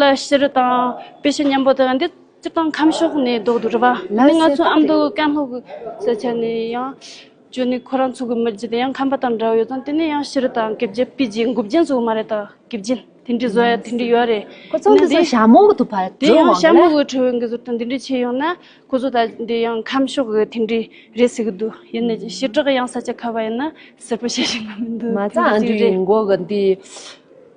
ལ་ཤི་རུ་དང་དཔེ་ཤི་སྙམ་པོ་དང་འདི་སྤྱིར་བཏང་ཁམས་ཕྱོགས་ནས་བཟློག་ཏུ་རུ་བ་ནི་ང་ཚོ་ཨ་མདོ་ཀན་ལྷོ་གི་ས་ཆ་ནས་ཡང་བྱོན་ནས་ཁོ་རང་ཚོ་གི་མི་རྒྱུད་དེ་ཡང་ཁམས་པ་དང་འདྲ་བོ་ཡོད་ཙང་དེ་ནས་ཡང་ཤི་རུ་དང་གེབ་རྒྱལ་སྤུས་རྒྱལ་མགུ་རྒྱལ་ཚོ་མ་རེད་ད་གེབ་རྒྱལ་དེ་འདྲའི་བཟོ་ཡ་དེ་འདྲའི་ཡོད་རེད་ཁོ་ཚོ་འདི་ཚོ་ཞྭ་མོ་དུ་བར་དེ་ཡང་ཞྭ་མོ་གི་ཁྲོད་འགི་ཟུར་དང་དེ་འདྲའི་ཆས་ཡོང་ན་ཁོ་ཚོ་ད་འདི་ཡང་ཁམས་ཕྱོགས་གི་དེ་འདྲའི་རེད་ཟེར་གི་འདུག་ཡིན་ནའི་ཞི་དྲག་ཡང་ས་ཆ་ཁ་བ་ཡིན་ན་ཟེར་པོ་བྱེད་བཞིན་པ་མི་འདུག་མ་རྩ་ཨ་འདྲའི་ཡིན་མགོ་གི་འདི།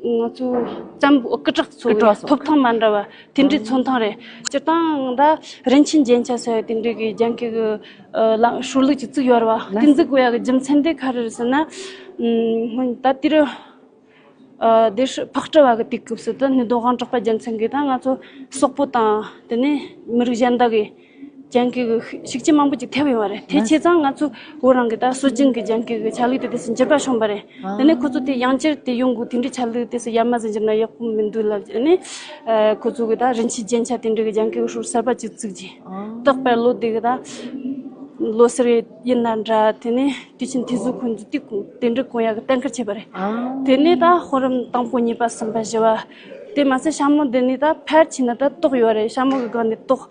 ང་ཚོའི་བརྩམས་སྐུ་དྲག་ཚོའི་ཐོབ་ཐང་མ་འདྲ་བ་དེ་འདྲའི་མཚོན་ཐང་རེད། སྤྱིར་བཏང་ད་རིན་ཆེན་རྒྱན་ཆ་ཟེར་བ་དེ་འདྲས་ཀྱི་རྒྱན་གྱི་ཧྲུའུ་ལུགས་ཀྱི་བཙུགས་ཡོད་རེད་བ། དེ་འཛུགས་བའི་རྒྱུ་མཚན་དེ་ག་རེད་ཟེར་ན། སྔོན་ད་ལྟའི་རུ་སྡེ་ཧྲིལ་ཕག་གྲི་བ་གི་དུས་སྐབས་སུ་དུ་སྣོད་དུ་དབང་དྲག་པ་རྒྱལ་མཚན་གྱིས་ད་ང་ཚོ་སོག་པོ་དང་དེ་ནས་མི་རིགས་གཞན་དག་གིས། རྒྱང་གི་ཤིག་ཅེས་མང་པོ་ཅིག་ཐལ་བའི་བར་དེ་བྱས་ཙང་ང་ཚོ་བོད་རང་གི་ད་སྲོལ་རྒྱུན་གྱི་རྒྱང་གི་ཆ་ལུགས་དེ་དེ་སྲིད་འགྱུར་བར་ཤོངས་པ་རེད་དེ་ནས་ཁོ་ཚོ་དེ་ཡང་བསྐྱར་དེ་ཡོང་དགོས་དེ་འདྲའི་ཆ་ལུགས་དེ་སྲིད་ཡར་མ་ཟིན་རྒྱུ་ན་ཡག་པོ་མི་འདུག་ལབ་ཅེས་ནས་ཁོ་ཚོ་གི་ད་རིན་ཆེན་རྒྱན་ཆ་དེ་འདྲ་གི་རྒྱང་གི་ཧྲུའུ་གསར་པ་ཅིག་བཙུགས་རྗེས་རྟག་པར་ལོ་དེ་གི་ད་ལོ་སར་ཡིན་ན་འདྲ་དེ་ནས་དུས་ཆེན་དེ་ཚོ་ཁོ་ཚོ་དུས་ཀུན་དེ་འདྲ་གང་ཡག་གི་གཏན་འཁེལ་བྱས་པ་རེད་དེ་ནས་ད་ཧོར་རམ་དང་པོ་གཉིས་པ་གསུམ་པ་བཞི་བ་དེ་མ་ཟད་ཤ་མོ་འདི་ནས་ད་ཕལ་ཆེ་ན་ད་ཏོག་ཡོད་རེད་ཤ་མོ་གི་སྒང་ནས་ཏོག